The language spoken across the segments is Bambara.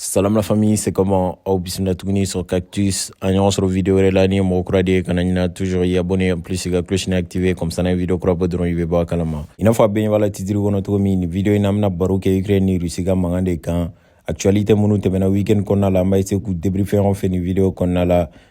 Salam la famille, c'est comment Aw bismillah tuguni sur Cactus. An ɲɔgɔn sɔrɔ vidéo wɛrɛ la n'i ye mɔgɔ kura de ye kana ɲina toujours k'i abonner en plus i ka cloche ni activer comme ça n'an ye vidéo kura bɔ dɔrɔn i bɛ bɔ a kalama. I n'a fɔ aw bɛɛ ɲɛ b'a la titre kɔnɔ cogo min nin vidéo in na an bɛna baro kɛ Ukraine ni Russie ka mankan de kan. Actualité minnu tɛmɛna week-end kɔnɔna la an b'a essayer k'u débriefer ɲɔgɔn fɛ nin vidéo kɔnɔna la.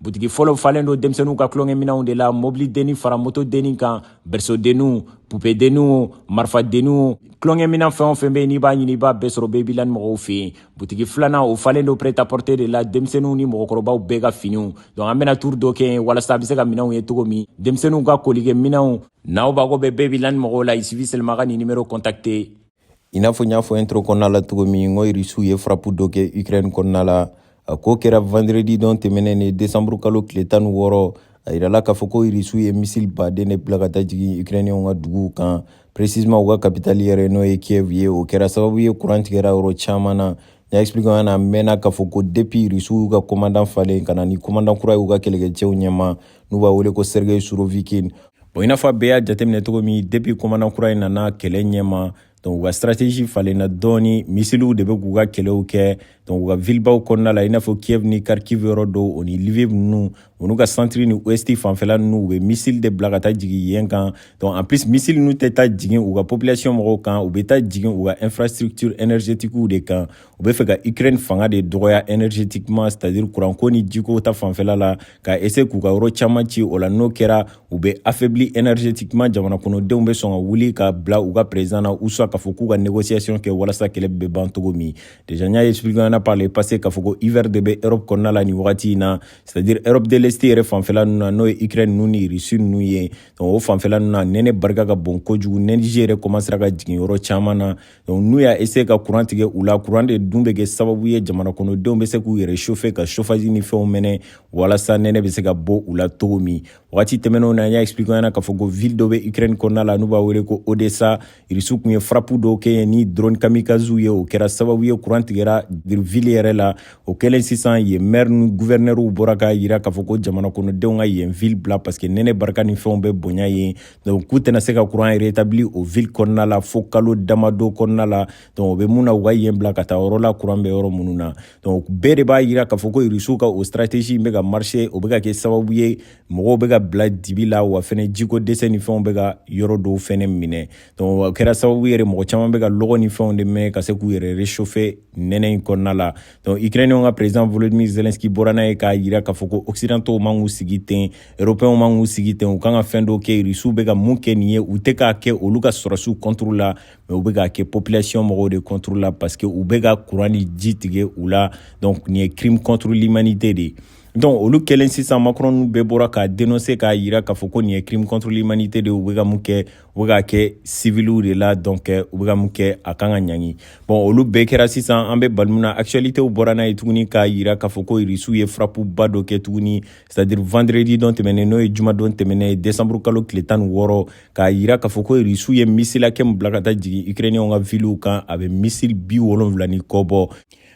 butigi fɔlɔ falen don denmisɛnninw ka tulonkɛminɛnw de la mobili denni fara moto denni kan bɛrisodenninw pupedenninw marifadenninw tulonkɛminɛn fɛn o fɛn bɛ yen n'i b'a ɲini i b'a bɛɛ sɔrɔ babyland mɔgɔw fɛ yen butigi filanan o falen don prêt-à-porter de la denmisɛnninw ni mɔgɔkɔrɔbaw bɛɛ ka finiw donc an bɛna turu dɔ kɛ yen walasa aw bɛ se ka minɛnw ye cogo min denmisɛnninw ka tulonkɛminɛnw n'aw mako bɛ babyland mɔgɔw la il suffit seulement aw ka nin nimero contacter i n'a fɔ n y'a fɔ intro kɔnɔna la cogo min ko irisiw ye farapu dɔ kɛ ukraine kɔnɔna la a ko kɛra vendredi don tɛmɛnen in desanburu kalo tile tan ni wɔɔrɔ a yirala k'a fɔ ko irisiw ye misili baden de bila ka taa jigin ukrainiyɛnw ka duguw kan précisément u ka kapitali yɛrɛ n'o ye kiev ye o kɛra sababu ye kuran tigɛra yɔrɔ caman na y'a expliquer aw ɲɛna mɛnna k'a fɔ ko depuis rusiw y'u ka komandan falen ka na ni komandan kura y'u ka kɛlɛkɛcɛw ɲɛma n'u b'a wele ko sergei surovikin bon i n'a fɔ aw bɛɛ y'a jateminɛ cogo min depuis komandan kura in nana kɛlɛ ɲɛma donc u ka stratégie falenna dɔɔni misiliw de bɛ k'u ka kɛlɛw kɛ donc u ka vilibaw kɔnɔna la i n'a fɔ kiev ni kharkiv yɔrɔ dɔw o ni lviv ninnu olu ka santiri ni ouesti fanfɛla n'u bɛ misili de bila ka taa jigin yen kan donc en plus misili ninnu tɛ taa jigin u ka population mɔgɔw kan u bɛ taa jigin u ka infrastructure énergétiquew de kan u bɛ fɛ ka ukraine fanga de dɔgɔya énergétiquement c'est à dire kuranko ni jiko ta fanfɛla la k'a essayer k'u ka yɔrɔ caman ci o la n'o kɛra u bɛ affaibli énergétiquement jamana kɔnɔdenw bɛ sɔn ka wuli ka bila u ka président na ou soit k'a fɔ k'u ka négociation kɛ walasa kɛlɛ bɛ ban cogo min déjà n y'a expliquer ɲɔgɔn na par le passé k'a fɔ ko hiver de bɛ europe kɔnɔna la nin wagati in na c'est à dire Europe de l'Est yɛrɛ fanfɛla ninnu na n'o ye Ukraine ninnu ni Russie ninnu ye donc o fanfɛla ninnu na nɛnɛ barika ka bon kojugu nɛnɛji yɛrɛ commencera ka jigin yɔrɔ caman na donc n'u y'a essayer ka courant tigɛ u la courant de dun bɛ kɛ sababu ye jamana kɔnɔdenw bɛ se k'u yɛrɛ chauffer ka chauffage ni fɛnw mɛnɛ walasa nɛnɛ bɛ se ka bɔ u la cogo min wagati tɛmɛnenw na an y'a expliquer aw ɲɛna k'a fɔ ko ville dɔ bɛ Ukraine kɔnɔna la n'u b'a wele ko Odessa irisiw tun ye farapu dɔw kɛ yen ni drone kamikaziw ye o kɛra sababu ye kuran tigɛra vili yɛrɛ la o kɛlen sisan yen mɛri ni guvɛrinɛriw bɔra k'a yira k'a fɔ ko jamana kɔnɔdenw ka yen vili bila paske nɛnɛ barika ni fɛnw bɛ bonya yen donc k'u tɛna se ka kuran retabili o vili kɔnɔna la fo kalo damado kɔnɔna la donc o bɛ mun na u ka yen bila ka taa yɔrɔ la kuran bɛ yɔrɔ minnu na donc bɛɛ de b'a yira k'a fɔ ko irisiw ka o stratégie in bɛ ka marcher o bɛ ka kɛ sababu ye mɔgɔw bɛ ka bila dibi la wa fɛnɛ jiko dɛsɛ ni fɛnw bɛ ka yɔrɔ dɔw fɛnɛ minɛ donc o kɛra sababu ye mɔgɔ caman bɛ ka lɔgɔ ni fɛnw de mɛnɛ ka se k'u yɛrɛ réchauffer nɛnɛ in kɔnɔna la donc ukrainienw ka président volodymyr zelensky bɔra n'a ye k'a yira k'a fɔ ko occidentaux man k'u sigi ten européens man k'u sigi ten u kan ka fɛn dɔw kɛ rusiw bɛ ka mun kɛ nin ye u tɛ k'a kɛ olu ka sɔrɔdasiw contre la mais u bɛ k'a kɛ population mɔgɔw de contre la parce que u bɛ ka courant ni ji tigɛ u la donc nin ye crime contre l'humanité de ye donc olu kɛlen sisan macron bɛɛ bɔra k'a denonse k'a yira k'a fɔ ko nin ye crime contre l'humanité de ye u bɛ ka mun kɛ u bɛ k'a kɛ civiliw de la donc u bɛ ka mun kɛ a kan ka ɲangi bon olu bɛɛ kɛra sisan an bɛ waati min na actualitéw bɔra n'a ye tuguni k'a yira k'a fɔ ko irisiw ye frapuba dɔ kɛ tuguni c'est à dire vendredi dɔn tɛmɛnen n'o ye jumadon tɛmɛnen ye décembre kalo tile tan ni wɔɔrɔ k'a yira k'a fɔ ko irisiw ye misili hakɛ min bila ka taa jigin ukrainiyɛnw ka viliw kan a bɛ misili bi wolonwula ni kɔ bɔ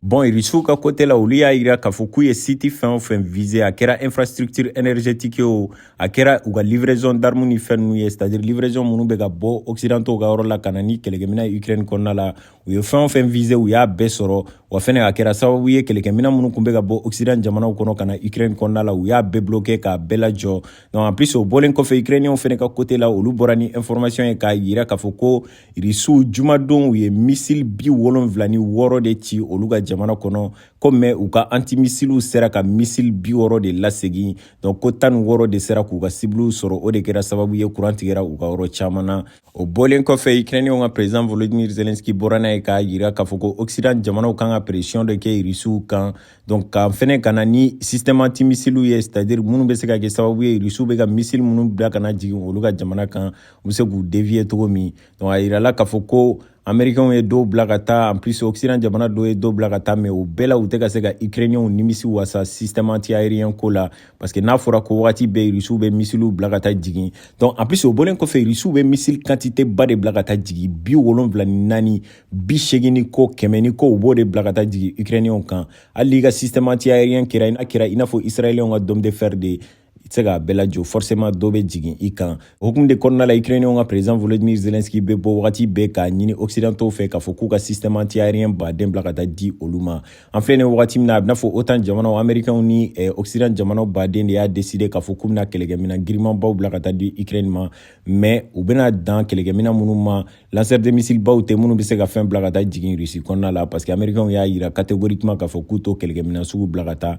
Bɔn irisiw ka kote la olu y'a jira k'a fɔ k'u ye site fɛn o fɛn vize a kɛra infrastructure énergétique o a kɛra u ka livraison d'armes ni fɛnw ye c'est à dire livraison minnu bɛ ka bɔ occidentaux ka yɔrɔ la ka na ni kɛlɛkɛminan ye ukraine kɔnɔna la u ye fɛn o fɛn vize u y'a bɛɛ sɔrɔ wa fɛnɛ a kɛra sababu ye kɛlɛkɛminan minnu tun bɛ ka bɔ occident jamanaw kɔnɔ ka na ukraine kɔnɔna la u y'a bɛɛ bloquer k'a bɛɛ lajɔ donc en plus o bɔlen kɔfɛ ukrainienw fana ka kote la olu bɔra ni information ye k'a jira k'a fɔ ko irisiw jumadon u ye misili bi wolonfila ni wɔɔrɔ de ci olu ka jamana kɔnɔ ko mais u ka antimisiliw sera ka misili bi wɔɔrɔ de lasegin donc ko tan ni wɔɔrɔ de sera k'u ka sibiliw sɔrɔ o de kɛra sababu ye kuran tigɛra u ka yɔrɔ caman na o bɔlen kɔfɛ ukrainiyɛnw ka president volodimir zelenski bɔra n'a ye k'a yira k'a fɔ ko occident jamanaw kan ka presiyɔn dɔ kɛ irisiw kan donc ka fɛnɛ ka na ni système antimisiliw ye c'est à dire minnu bɛ se ka kɛ sababu ye irisiw bɛ ka misili minnu bila ka na jigin olu ka jamana kan u bɛ se k'u deviye cogo min donc a yirala k'a fɔ ko amerikɛnw ye dɔw bila ka taa en plus occident jamana dɔw ye dɔw bila ka taa mais u bɛɛ la u tɛ ka se ka ukrainienw nimisi wasa système anti aérien ko la parce que n'a fɔra ko wagati bɛɛ rusiw bɛ misiliw bila ka taa jigin donc en plus o bɔlen kɔfɛ rusiw bɛ misili quantité ba de bila ka taa jigin bi wolonwula ni naani bi seegin ni kɔ kɛmɛ ni kɔ u b'o de bila ka taa jigin ukrainienw kan hali i ka système anti aérien kɛra a kɛra i n'a fɔ israélienw ka dome de fer de ye i tɛ se k'a bɛɛ lajɔ forcément dɔ bɛ jigin i kan o hukumu de kɔnɔna la ukrainiyɛnw ka président volodymyr zelensky bɛ bɔ wagati bɛɛ k'a ɲini occidentaux fɛ k'a fɔ k'u ka système anti aérien ba de bila ka taa di olu ma an filɛ nin wagati min na a bɛna fɔ otan jamanaw américainw ni eh, occident jamanaw baden de y'a décider k'a fɔ k'u bɛna kɛlɛkɛminan girimanbaw bila ka taa di ukraine ma mais u bɛna dan kɛlɛkɛminan minnu ma lanceur de missile baw tɛ minnu bɛ se ka fɛn bila ka taa jigin russie kɔnɔna la parce que américainw y'a jira catégoriquement k'a fɔ k'u t'o kɛlɛkɛminan sugu bila ka taa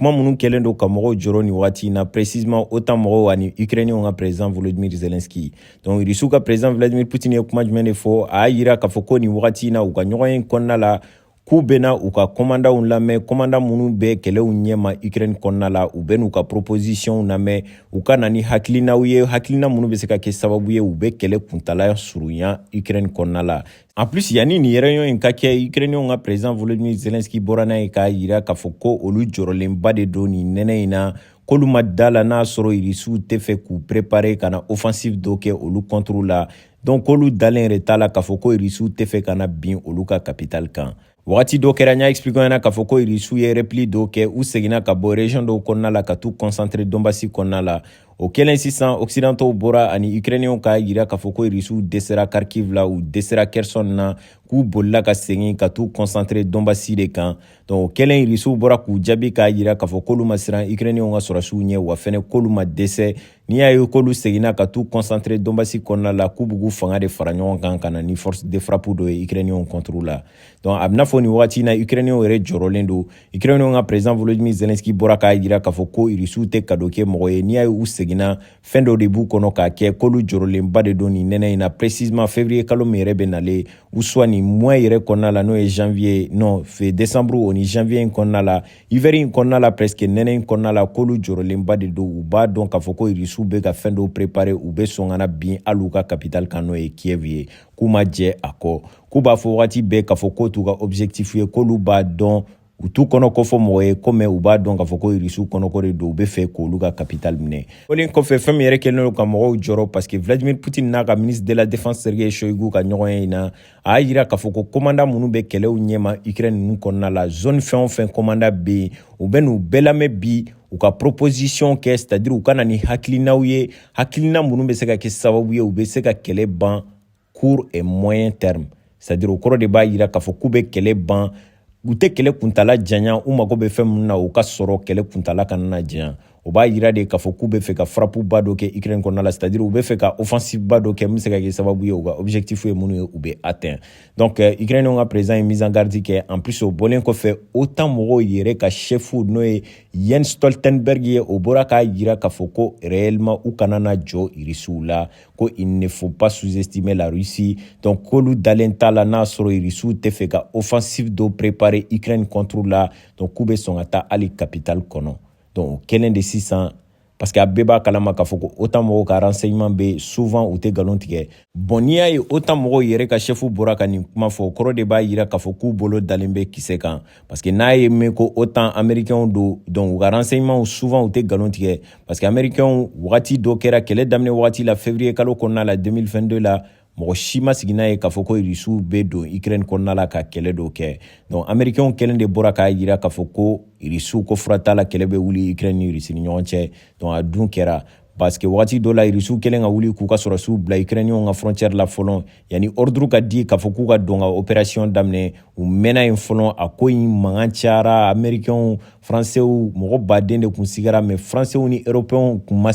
kuma minnu kɛlen don ka mɔgɔw jɔrɔ nin wagati in na précisément OTAN mɔgɔw ani Ukrainiens ka président Volodymyr Zelensky donc Russiw ka président Vladimir Poutine ye kuma jumɛn de fɔ a y'a yira k'a fɔ ko nin wagati in na u ka ɲɔgɔnye kɔnɔna la k'u bɛna u ka kɔmandanw lamɛn kɔmandan minnu bɛ kɛlɛw ɲɛma ukraine kɔnɔna la u bɛn'u ka proposisiyɔnw lamɛn u ka na ni hakilinaw ye hakilina minnu bɛ se ka kɛ sababu ye u bɛ kɛlɛ kuntala surunya ukraine kɔnɔna la En plus yanni nin réunion in ka kɛ ukrainiyɛnw ka president volodymyr zelenski bɔra n'a ye k'a yira k'a fɔ ko olu jɔrɔlenba de don nin nɛnɛ in na k'olu ma da la n'a sɔrɔ irisiw tɛ fɛ k'u prepare ka na offensive dɔ kɛ olu contre la donc k'olu dalen yɛrɛ t'a la k'a fɔ ko irisiw tɛ fɛ ka na bin olu ka capitale kan Wagati dɔ kɛra n y'a expliquer yan na k'a fɔ ko irisiw ye repli dɔw kɛ u seginna ka bɔ region dɔw kɔnɔna la ka t'u concentre donbasi kɔnɔna la o kɛlen sisan occidentaux bɔra ani ukrainienw k'a yira k'a fɔ ko irisiw dɛsɛra kharkiv la u dɛsɛra kherson na k'u bolila ka segin ka t'u concentre donbasi de kan donc o kɛlen irisiw bɔra k'u jaabi k'a yira k'a fɔ k'olu ma siran ukrainienw ka sɔrɔdasiw ɲɛ wa fɛnɛ k'olu ma dɛsɛ n'i y'a ye k'olu seginna ka t'u concentre donbasi kɔnɔna la k'u b'u fanga de fara ɲɔgɔn kan ka na ni force de frappe dɔ ye ukrainiyɛnw contre la donc a bɛna fɔ nin wagati na ukrainiyɛnw yɛrɛ jɔrɔlen don ukrainiyɛnw ka président volodymyr zelenski bɔra k'a jira k'a fɔ ko irisiw tɛ kado kɛ mɔgɔ ye n'i y'a ye u seginna fɛn dɔ de b'u kɔnɔ k'a kɛ k'olu jɔrɔlenba de don nin nɛnɛ in na précisement février kalo min yɛrɛ bɛ nalen ou soit nin mois yɛrɛ kɔnɔna la n'o ye janvier non fin décembre o ni janvier in kɔnɔna la hiver in kɔnɔna la presque nɛnɛ in kɔnɔna la k'olu jɔrɔlenba de don u b'a dɔn k'a fɔ ko irisiw bɛ ka fɛn dɔw prepare u bɛ sɔn ka na bin hali u ka kapitali kan n'o ye kiev ye k'u ma jɛn a kɔ k'u b'a fɔ wagati bɛɛ k'a fɔ k'o t'u ka objectif ye k'olu b'a dɔn u t'u kɔnɔko fɔ mɔgɔ ye kɔmi u b'a dɔn k'a fɔ ko irisiw kɔnɔko de don u bɛ fɛ k'olu ka kapitali minɛ fɔlen kɔfɛ fɛn min yɛrɛ kɛlen don ka mɔgɔw jɔrɔ parce que vladimir poutine n'a ka ministre de la défense sergei shoigu ka ɲɔgɔnye in na a y'a yira k'a fɔ ko komanda minnu bɛ kɛlɛw ɲɛma ukraine nin kɔnɔna la zone fɛn o fɛn komanda bɛ yen u bɛn'u bɛɛ lamɛn bi u ka proposition kɛ c'est à dire u ka na ni hakilinaw ye hakilina minnu bɛ se ka kɛ sababu ye u bɛ se ka kɛlɛ ban court et moyen terme c'est à dire o kɔrɔ de b'a yira k'a fɔ k'u bɛ kɛlɛ ban u tɛ kɛlɛ kuntala janya u mago bɛ fɛn minnu na u k'a sɔrɔ kɛlɛ kuntala kana na janya o b'a yira de k'a fɔ k'u bɛ fɛ ka frappe ba dɔ kɛ ukraine kɔnɔna la c'est-à-dire u bɛ fɛ ka offensive ba dɔ kɛ min bɛ se ka kɛ sababu ye u ka objectif ye minnu ye u bɛ atteint donc euh, ukraine ka président ye mise en garde kɛ en plus o bɔlen kɔfɛ otan mɔgɔw yɛrɛ ka chef n'o ye jens stoltenberg ye o bɔra k'a yira k'a fɔ ko réellement u kana na jɔn irisiw la ko il ne faut pas sous-estimer la Russie donc k'olu dalen t'a la n'a sɔrɔ irisiw tɛ fɛ ka offensive dɔ préparer Ukraine contre la donc k'u bɛ sɔn ka taa hali capitale kɔnɔ donc o kɛlen de sisan parce que a bɛɛ b'a kalama k'a fɔ ko otan mɔgɔw ka renseignement bien souvent u tɛ nkalon tigɛ bon n'i y'a ye otan mɔgɔw yɛrɛ ka chef bɔra ka nin kuma fɔ kɔrɔ de b'a yira k'a fɔ k'u bolo dalen bɛ kisɛ kan parce que n'a ye mɛn ko otan amerikɛnw don donc u ka renseignementw souvent u tɛ nkalon tigɛ parce que amerikɛnw wagati dɔ kɛra kɛlɛ daminɛ wagati la février kalo kɔnɔna la 2022 la mɔgɔ si ma sigi n'a ye k'a fɔ ko irisiw bɛ don ukraine kɔnɔna la ka kɛlɛ dɔw kɛ donc amerikɛnw kelen de bɔra k'a jira k'a fɔ ko irisiw ko fura t'a la kɛlɛ bɛ wuli ukraine ni irisi ni ɲɔgɔn cɛ donc a dun kɛra parce que wagati dɔ la irisiw kɛlen ka wuli k'u ka sɔrɔdasiw bila ukrainienw ka frontière la fɔlɔ yanni ordre ka di k'a fɔ k'u ka don ka opération daminɛ u mɛnna yen fɔlɔ a ko in mankan cayara amerikɛnw faransew mɔgɔ baden de kun sigara mais faransew ni eropɛnw kun ma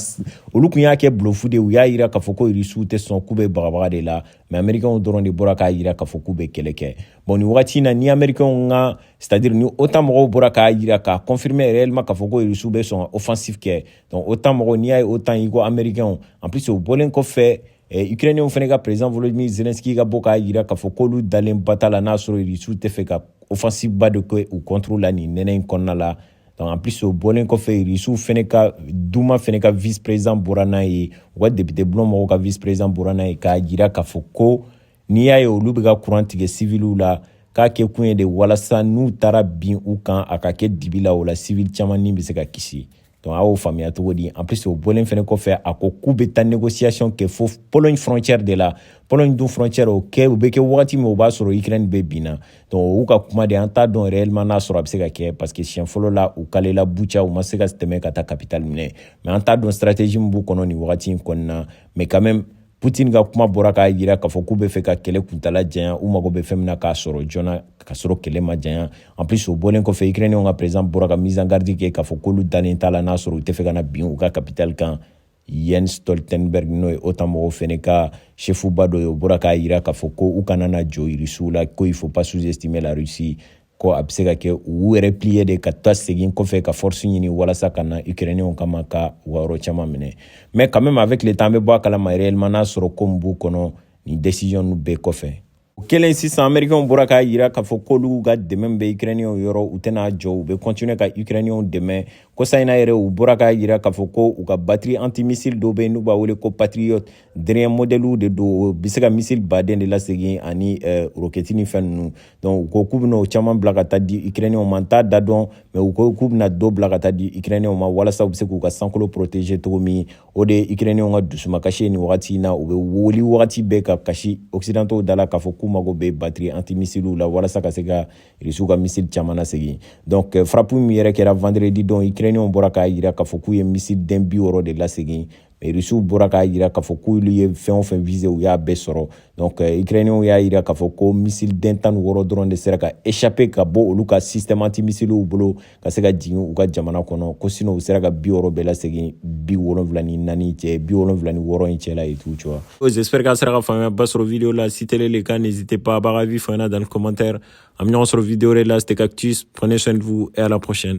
olu kun y'a kɛ bluff de u y'a yira k'a fɔ ko irisiw tɛ sɔn k'u bɛ bagabaga de la mais amerikɛnw dɔrɔn de bɔra k'a yira k'a fɔ k'u bɛ kɛlɛ kɛ bon nin wagati in na ni amerikɛnw ka c'est à dire ni otan mɔgɔw bɔra k'a yira k'a confirmer réellement k'a fɔ ko irisiw bɛ sɔn ka offensive kɛ Donc OTAN mɔgɔw n'i y'a ye OTAN i ko américains en plus o bɔlen kɔfɛ eh, ukrainien fɛnɛ ka président Volodymyr Zelensky ka bɔ k'a jira k'a fɔ k'olu dalen ba t'a la n'a sɔrɔ Rusiw tɛ fɛ ka offensive ba de kɛ u contre la nin nɛnɛ in kɔnɔna la donc en plus o bɔlen kɔfɛ Rusiw fɛnɛ ka Duma fɛnɛ ka vice président bɔra n'a ye u ka député bulon mɔgɔw ka vice président bɔra n'a ye k'a jira k'a fɔ ko n'i y'a ye olu bɛ ka kuran tigɛ siviliw la k'a kɛ kun ye de walasa n'u taara bin u kan a ka kɛ dibi la o la sivili caman ni bɛ se ka kisi donc a y'o faamuya cogo di en plus o bɔlen fɛnɛ kɔfɛ a ko k'u bɛ taa négociation kɛ fo pologne frontière de la pologne dun frontière o kɛ u bɛ kɛ wagati min o b'a sɔrɔ ukraine bɛɛ binna donc u ka kuma de an t'a dɔn réellement n'a sɔrɔ a bɛ se ka kɛ parce que siɲɛ fɔlɔ la u kalela boutcha u ma se ka tɛmɛ ka taa capitale minɛ mais an t'a dɔn stratégie min b'u kɔnɔ nin wagati in kɔnɔna mais quand même putin ka kuma bɔra k'a jira k'a fɔ k'u bɛ fɛ ka kɛlɛ kuntaala janya u mago bɛ fɛn min na k'a sɔrɔ joona ka sɔrɔ kɛlɛ ma janya en plus o bɔlen kɔfɛ ukrainenw ka président bɔra ka mise en garde kɛ k'a fɔ k'olu dalen t'a la n'a sɔrɔ u tɛ fɛ ka na bin u ka capitale kan yen stoltenberg n'o ye otan mɔgɔw fɛnɛ ka chef ba dɔ ye o bɔra k'a jira k'a fɔ ko u kana na jɔn irisiw la ko il faut pas sous-estimer la russie ko a bɛ se ka kɛ u ye replier de ka taa segin kɔfɛ ka force ɲini walasa ka na ukrainenw kama ka u ka yɔrɔ caman minɛ mais quand même avec le temps an bɛ bɔ a kalama réellement n'a sɔrɔ ko min b'u kɔnɔ nin décision nu bɛɛ kɔfɛ o kɛlen sisan amerikɛnw bɔra k'a yira k'a fɔ k'olu ka dɛmɛ bɛ ukrainenw yɔrɔ u tɛna jɔ u bɛ continuer ka ukrainenw dɛmɛ kɔsa in na yɛrɛ u bɔra k'a yira k'a fɔ ko u ka batiri antimissile dɔ bɛ yen n'u b'a wele ko patriot dernier modèle de don bɛ se ka misili baden de lasegin ani eh, rokɛti ni fɛn ninnu donc u ko k'u bɛna o caman bila ka taa di ukrainenw ma n t'a da dɔn mais u ko k'u bɛna dɔ bila ka taa di ukrainenw ma walasa u bɛ se k'u ka sankolo protéger cogo min o de ye ukrainenw ka dusumakasi ye nin wagati in na u bɛ wuli wagati bɛɛ ka kasi occidentaux da la k'a fɔ k'u mago bɛ batiri antimisiliw la walasa ka se ka rusiw ka misili caman lasegin donc eh, frappe min yɛrɛ kɛra vendredi don ukrainenw bɔra k'a jira k'a fɔ k'u ye misili den bi wɔɔrɔ de lasegin irisiw bɔra k'a jira k'a fɔ k'olu ye fɛn o fɛn viser u y'a bɛɛ sɔrɔ donc euh, ukrainiyɛnw y'a jira k'a fɔ ko misili den tan ni wɔɔrɔ dɔrɔn de sera ka échapper ka bɔ olu ka système anti misiliw bolo ka se ka jigin u ka jamana kɔnɔ ko sinon u sera ka bi wɔɔrɔ bɛɛ lasegin bi wolonwula ni naani cɛ bi wolonwula ni wɔɔrɔ in cɛla en tout cas j'espère k'a sera ka faamuyaba sɔrɔ video la si tel est le cas n'hésitez pas b'a ka avis fana dans le commentaire an bɛ ɲɔgɔn sɔrɔ video wɛrɛ la c'était cactus prenez soin de vous et à la prochaine